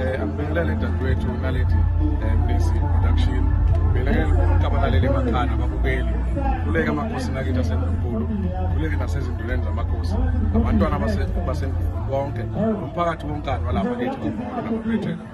Eh, angibingelele dadewethu naledi eh, mlisi production ngibingelele bonke abalaleli emakhaya nababukeli kuleke amakhosi nakithi asendunkulu kuleke nasezinduleni zamakhosi abantwana basendunkulu bonke nomphakathi wonkani walapha kithi kwamolo namabethela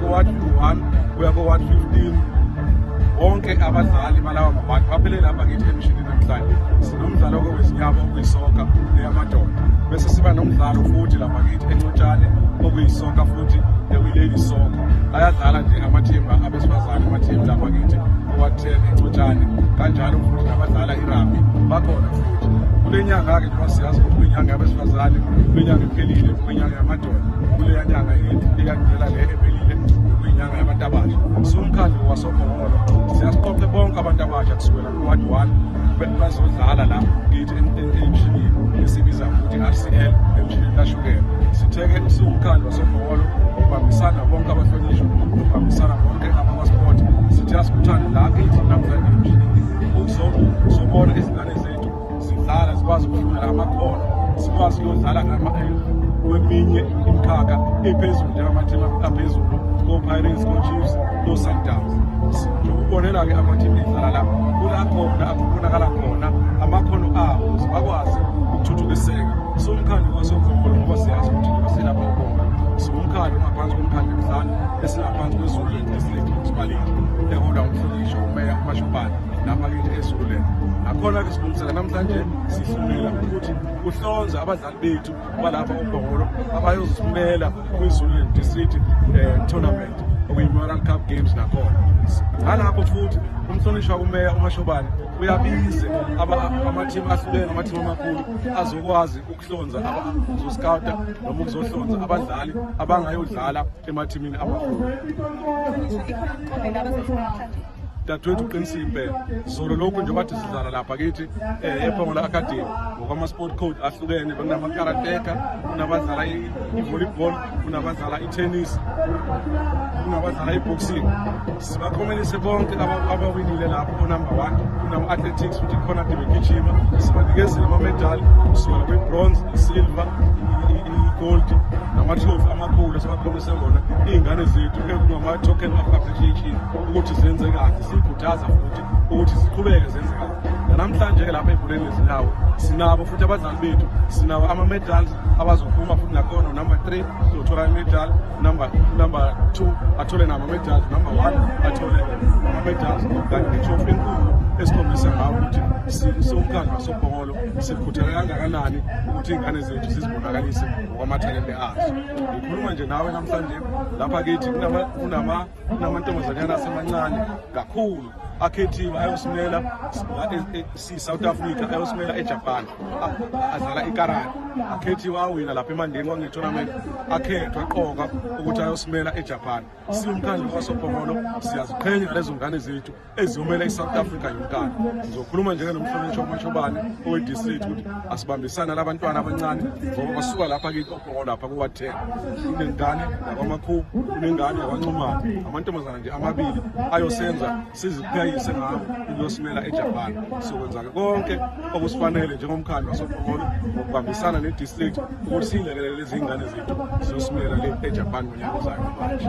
kowathi 1 kuya kowathi 15 bonke abadlali balawa mabantu baphelele apha kithi emishini namhlanje sinomdlalo okowezinyama okuyisoka eyamadoda bese siba nomdlalo futhi lapha kithi encotshane okuyisoka futhi ewileli soka ayadlala nje amathimba abesifazane amathimba lapha kithi owathele encotshane kanjalo futhi nabadlala irabi bakhona futhi kule nyanga-ke njengoba siyazi ukuthi kwinyanga yabesifazane kwinyanga iphelile kwinyanga kuleya nyanga eyakudlela le ebelile kuyinyanga yabantu abasha siwumkhandlu wasokhoholo siyasiqoqe bonke abantu abasha kusukela ku-ward one bazodlala la kithi emshinini esibiza ukuthi i-rcl emshinini kashukela sitheke siwumkhandlu wasokhoholo ubambisana bonke abahlonishwa ubambisana bonke amasport sithi asikuthande la kithi namhlanje emshinini uzobona izingane sidlala sikwazi ukufunda amakhono sikwazi ukuyodlala kweminye imikhakha ephezulu njengamathima aphezulu ko-pirates ko-chiefs ko-sundowns ukubonela-ke amathimu edlala la kulakhona akubonakala khona amakhono abo bakwazi ukuthuthukiseka siwumkhandlu wasogombolo ngoba siyazi ukuthi silapha ugombolo siwumkhandlu ngaphansi komkhandlu emhlanu esingaphansi kwezulu esilethwa kusibaleki eholwa umhlonishwa umeya umashobane namakithi esule nakhona-ke silungisela namhlanje sihlumela ukuthi kuhlonze abadlali bethu balapha umbongolo abayoziphumela kwi-zululand district um tournament okuyi-moral cup games nakhona ngalapho futhi umhlonishwa kumeya umashobane uyabize amathimu ahlukene amathimu amakhulu azokwazi ukuhlonza uzosikawuta noma ukuzohlonza abadlali abangayodlala emathimini amakhulu dadewethu uqinisile impela zolo lokhu nje bathi sidlala lapha kithi um eh, ephongola academy ngokwama-sport code ahlukene kunamakarateka kunabadlala i-volleyball kunabadlala i-tennis kunabadlala i-boxing sibakhomelise bonke abawinile lapho onumber one kunama-athletics futhi khona ade begijima sibanikezile amamedali kusukela kwi-bronze isilver i-gold namatrophy amakhulu esibakhomelise ngona iy'ngane zethu ekunama-token of appreciation ukuthi zenze kahle sikhuthaza futhi ukuthi siqhubeke zenze kahle nanamhlanje-ke lapha ebholeni lezindawo sinabo futhi abadlali bethu sinawo ama-medals abazophuma futhi nakhona unumber three uzothola imedal number number two athole nama-medals number one athole ama-medals kanti netrophy enkulu esikhombisa ngawo ukuthi siwumkhandlu wasobhongolo sikhuthele kangakanani ukuthi iy'ngane zethu sizibonakalise ngokwamathalente azo ngikhuluma nje nawe namhlanje lapha kithi kunama kunamantombazanyana asemancane kakhulu akhethiwe ayosimela si-south africa ayosimela ejapan adlala ikarani akhethiwe awina lapha emandeni kwangetournament akhethwa qoka ukuthi ayosimela ejapan siwumkhandlu kwasophongolo siyaziqhenya lezo ngane zethu eziyomela i-south africa yonkana ngizokhuluma njengenomhlonitshwa umashobane owe-district ukuthi asibambisane labantwana abancane ngoba basuka lapha kikokoko lapha kuwa-ten kunengane yakwamakhubu kunengane yakwanxumana amantombazana nje amabili ayosenza sizipheyise ngawo ukuyosimela ejapan sizokwenza-ke konke okusifanele njengomkhandlu wasopokolo ngokubambisana ne-district ukuthi siyilekelele lezi yingane zethu ziyosimela le ejapan ngonyaka ozayo manje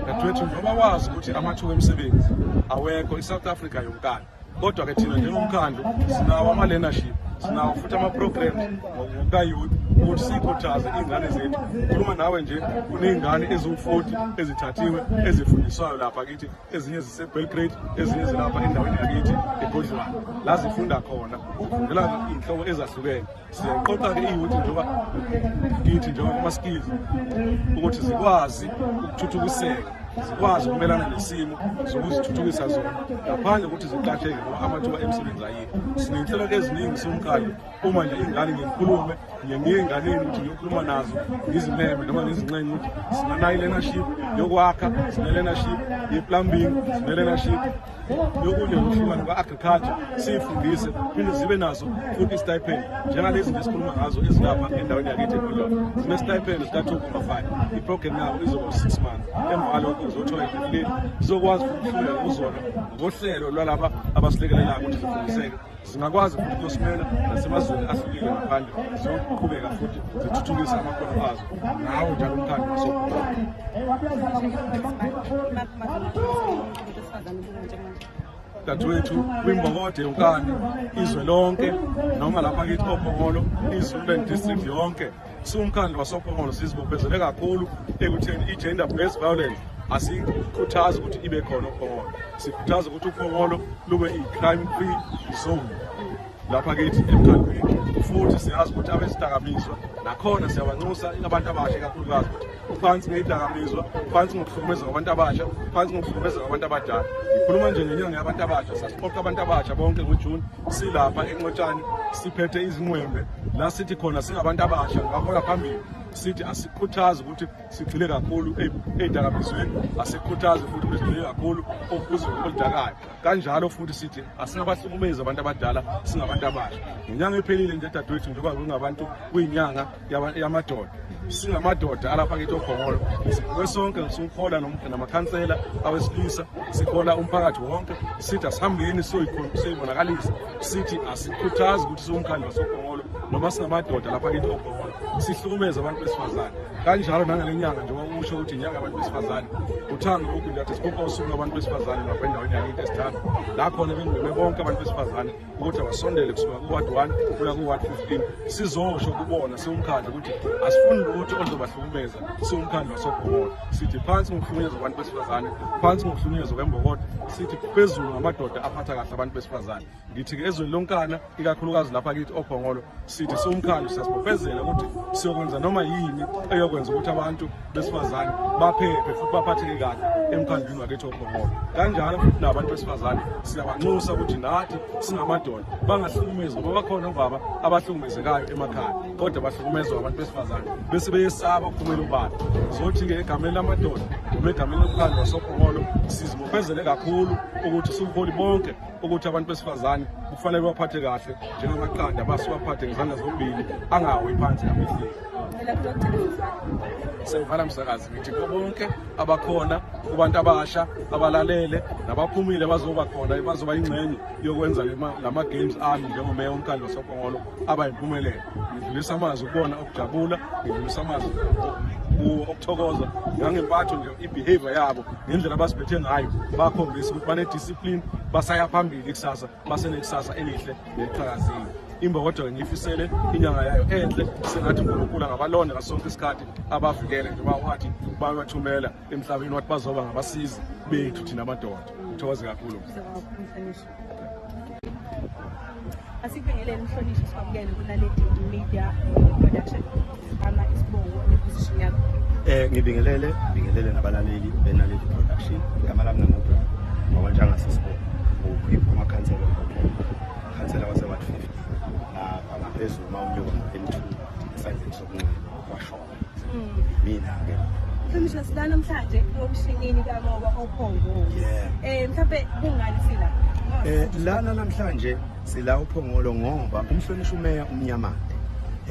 dadewethu ngoba wazi ukuthi amathuba emisebenzi awekho i-south africa yonkana kodwa ke thina njengomkhandlu sinawo ama-learnership sinawo futhi ama-program ngokukayouth ukuthi sikhuthaze iy'ngane zethu khuluma nawe nje kuney'ngane eziwu-forty ezithathiwe ezifundiswayo lapha kithi ezinye zisebelgrade ezinye zilapha endaweni yakithi egodlwana la zifunda khona ukufundela iy'nhlobo ezahlukene siyaqoqa-ke iyouthi njengoba kithi njengoba kuma-skills ukuthi zikwazi ukuthuthukiseka zikwazi ukumelana nesimo zokuzithuthukisa zona ngaphandle kokuthi ziqatheke ngoba amathuba emsebenzi ayikho siney'nhlelo eziningi somkalo uma nje ingane ngikhulume ngiye ngiye enganeni ukuthi ngiyokhuluma nazo ngizimeme noma ngizincenye ukuthi sinanayo i-learnership yokwakha sine-learnership ye-plumbing sine-learnership yokunye ukuhlukana kwa-agriculture siyifundise phinde zibe nazo futhi istipend njengalezi nje sikhuluma ngazo ezilapha endaweni yakithi ekolona sinestipend sika-two comma five iprogram yabo izoba six months emva kwalokho uzothola idefleti zizokwazi ukuhlula kuzona ngohlelo lwalaba abasilekelelayo ukuthi zifundiseke Singakwazi futhi ukusimela nasemazweni ahlukile ngaphandle siyoqhubeka futhi zithuthukise amakhono azo ngawo njalo umkhandlu wasokuqala. dadewethu kwimbokode yonkana izwe lonke noma lapha kithi obhokolo izululand district yonke Siwumkhandlu wasoPhongolo sizibophezele kakhulu ekutheni i-gender based violence asikhuthazi ukuthi ibe khona uPhongolo. Sikhuthaza ukuthi uPhongolo lube i-crime free zone lapha kithi emkhandlwini futhi siyazi ukuthi abezidakamizwa nakhona siyabanxusa abantu abasha kakhulukazi ukuthi uphansi ngeyidakamizwa phansi ngokuhlukumeza kwabantu abasha phansi ngokuhlukumeza kwabantu abadala ngikhuluma nje ngenyanga yabantu abasha sasiqoqa abantu abasha bonke ngojuni silapha enxotshane siphethe izinqwembe la sithi khona singabantu abasha ngahola phambili sithi asikhuthazi ukuthi sigxile kakhulu eyidakamizweni asikhuthazi futhi ukuthi sigxile kakhulu okuzwe oludakayo kanjalo futhi sithi asingabahlukumezi abantu abadala singabantu abasha ngenyanga ephelile nje dadewethu njengoba kungabantu kuyinyanga yamadoda singamadoda alapha kithi okhongolo sibukwe sonke siwuhola namakhansela awesilisa sihola umphakathi wonke sithi asihambeni siyoyibonakalisa sithi asikhuthazi ukuthi siwumkhandlu wasogongolo noma singamadoda lapha kithi ogongolo sihlukumeza abantu besifazane kanjalo nangale nyanga njengoba kusho ukuthi inyanga abantu besifazane uthando lokhu njathi sikhupha usuku lwabantu besifazane lapha endaweni yakithi esithando la khona bengcome bonke abantu besifazane ukuthi abasondele kusuka kuward one kuya kuward fifteen sizosho kubona siwumkhandlu ukuthi asifuni lutho oluzobahlukumeza siwumkhandlu wasogongolo sithi phansi ngokuhlukunyezwa kwabantu besifazane phansi ngokuhlukunyezwa kwembokodo sithi phezulu ngamadoda aphatha kahle abantu besifazane ngithi ke ezweni lonkana ikakhulukazi lapha kithi obhongolo sithi siwumkhandlu siyasibopezela ukuthi siyokwenza noma yini eyokwenza ukuthi abantu besifazane baphephe futhi baphatheke kahle emkhandlwini wakithi obhongolo kanjalo futhi nabantu besifazane siyabanxusa ukuthi nathi singamadoda bangahlukumezi ngoba bakhona obaba abahlukumezekayo emakhaya kodwa bahlukumezwa abantu besifazane bese beyesaba ukuphumela ubala sothi-ke egameni lamadoda noma egameni lomkhandlu wasophokolo sizibophezele kakhulu ukuthi sibuholi bonke ukuthi abantu besifazane kufanele baphathe kahle njengamaqanda basiwaphathe ngezandla zombili angawi phansi amehleli sengivala msakazi ngithi ko bonke abakhona kubantu abasha abalalele nabaphumile bazoba khona bazoba yingxenye yokwenza la ma-games ami njengomeya omkhandlu wasophongolo abayimpumelelo ngidlulisa amazwi kubona okujabula ngidlulisa amazwi kuwo okuthokoza ngangempatho nje i-behavior yabo ngendlela abasiphethe ngayo bakhombisa ukuthi banediscipline basaya phambili ikusasa basenekusasa elihle neliqhakazile imbokodo ngiyifisele inyanga yayo enhle sengathi unkulunkulu angabalonda ngaso sonke isikhathi abavikele njengoba wathi babathumela emhlabeni wathi bazoba ngabasizi bethu thina amadoda ngithokoze kakhulu asikubingelele mhlonishwa sikwamukele kunaledi media production ama isibongo neposition yakho eh ngibingelele ngibingelele nabalaleli benaledi production igama lami ngamupha ngawantshanga sisibongo ngokukhipha umakhansela khansela wase-ward 50 lapha ngaphezulu uma unyuka ngo-n2 esandleni sokunxele kwashona mina-ke Mhla sila namhlanje ngomshinini kamoba ophongolo. Eh mhlawumbe kungani sila? Eh lana namhlanje sila uphongolo ngoba umhlonishwa umeya umnyamande.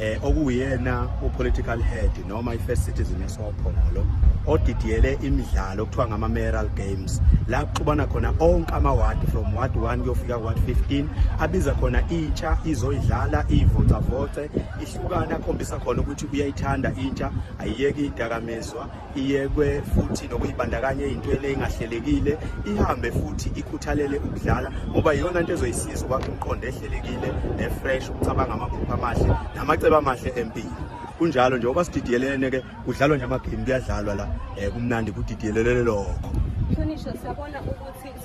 eh okuyena upolitical head noma ifirst citizen esophongolo odidiyele imidlalo okuthiwa ngama mayoral games la kuxubana khona onke ama ward from ward 1 kuyofika ward 15 abiza khona intsha izoyidlala ivocavoce hlukana akhombisa khona ukuthi uyayithanda intsha ayiyeke idakamizwa iyekwe futhi nokuyibandakanya eyintweni engahlelekile ihambe futhi ikhuthalele ukudlala ngoba iyona nto ezoyisiza ukwakha umqondo ehlelekile nefresh ukucabanga amaphupho amahle namacebo amahle empilo kunjalo nje oba sididiyelene ke kudlalwa nje amagame kuyadlalwa la um kumnandi kudidiyelelele lokho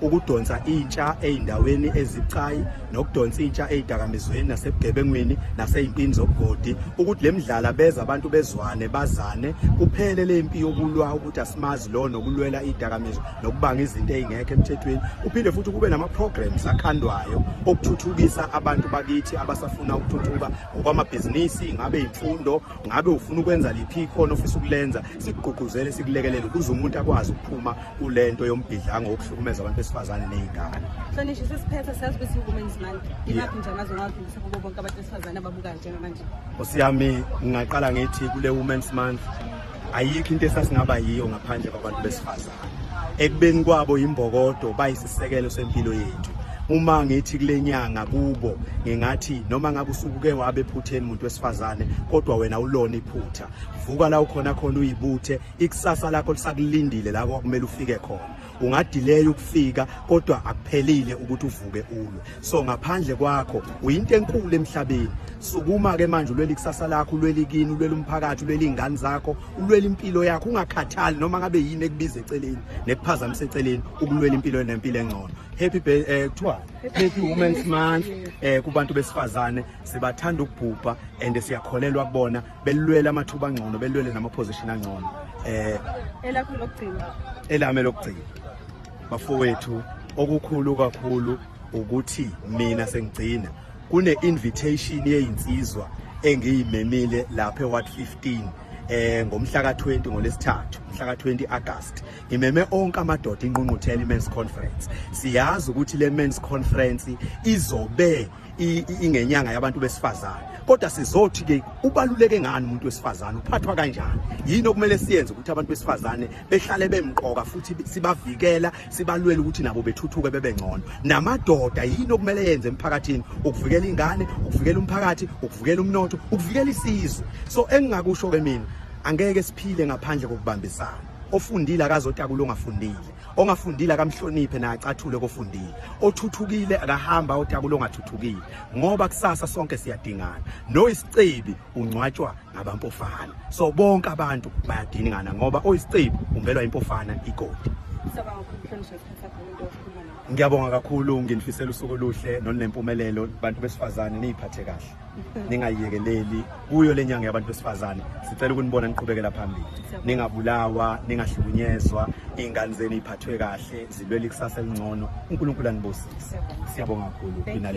ukudonsa intsha ezindaweni ezibucayi nokudonsa intsha ezidakamizweni nasebugebengwini nasezimpini zobugodi ukuthi lemidlala beza abantu bezwane bazane kuphele lempi yokulwa ukuthi asimazi lo nokulwela izidakamizwa nokubanga izinto ezingekho emthethweni uphinde futhi kube nama programs akhandwayo okuthuthukisa abantu bakithi abasafuna ukuthuthuka ngokwamabhizinisi ngabe imfundo ngabe ufuna ukwenza liphi khona ofisa ukulenza sikugqugquzele sikulekelele ukuze umuntu akwazi ukuphuma kule nto yombhidlango wokuhlukumeza abantu besifazane ney'ngane hlonishwa sesiphetha siyazi ukuthi i-women's month imaphi nje amazwe ngawadlulisa kubo bonke abantu besifazane ababukayo njengamanje nkosi yami ngingaqala ngithi kule women's month ayikho into esasingaba yiyo ngaphandle kwabantu besifazane ekubeni kwabo yimbokodo bayisisekelo sempilo yethu uma ngithi kule nyanga kubo ngingathi noma ngabe usukuke wabe ephutheni umuntu wesifazane kodwa wena ulona iphutha vuka la ukhona khona uyibuthe ikusasa lakho lisakulindile la kwakumele ufike khona ungadileya ukufika kodwa akuphelile ukuthi uvuke ulwe so ngaphandle kwakho uyinto enkulu emhlabeni sukuma ke manje ulwela ikusasa lakho ulwela ikini ulwela umphakathi ulwela izingane zakho ulwela impilo yakho ungakhathali noma ngabe yini ekubiza eceleni nekuphazamisa eceleni ukulwela impilo nempilo engcono happy birthday eh, kuthiwa happy women's month eh kubantu besifazane sibathanda ukubhubha and siyakholelwa kubona belulwele amathuba angcono belulwele namaposition angcono eh elakho lokugcina elame lokugcina bafowethu okukhulu kakhulu ukuthi mina sengigcina kune invitation yeyinsizwa engiyimemile lapha eWard 15 eh ngomhla ka20 ngolesithathu mhla ka20 August ngimeme onke amadoda inqunquthela imen's conference siyazi ukuthi le men's conference izobe ingenyanga yabantu besifazane kodwa sizothi ke ubaluleke ngani umuntu wesifazane uphathwa kanjani yini okumele siyenze ukuthi abantu besifazane behlale bemqoka futhi sibavikela sibalwele ukuthi nabo bethuthuke bebe ngcono namadoda yini okumele yenze emphakathini ukuvikela ingane ukuvikela umphakathi ukuvikela umnotho ukuvikela isizwe so engingakusho ke mina angeke siphile ngaphandle kokubambisana ofundile akazotakula ongafundile ongafundile akamhloniphe naye acathule kofundile othuthukile akahamba otakula ongathuthukile ngoba kusasa sonke siyadingana noyisicebi ungcwatshwa ngabampofana so bonke abantu bayadingana ngoba oyisicebi umbelwa impofana igodi ngiyabonga kakhulu nginifisela usuku oluhle nolunempumelelo bantu besifazane niyiphathe kahle ningayiyekeleli kuyo le nyanga yabantu besifazane sicela ukunibona niqhubekela phambili ningabulawa ningahlukunyezwa iy'ngane zenu iy'phathwe kahle zilwele ikusasa elingcono unkulunkulu anibusise siyabonga kakhulu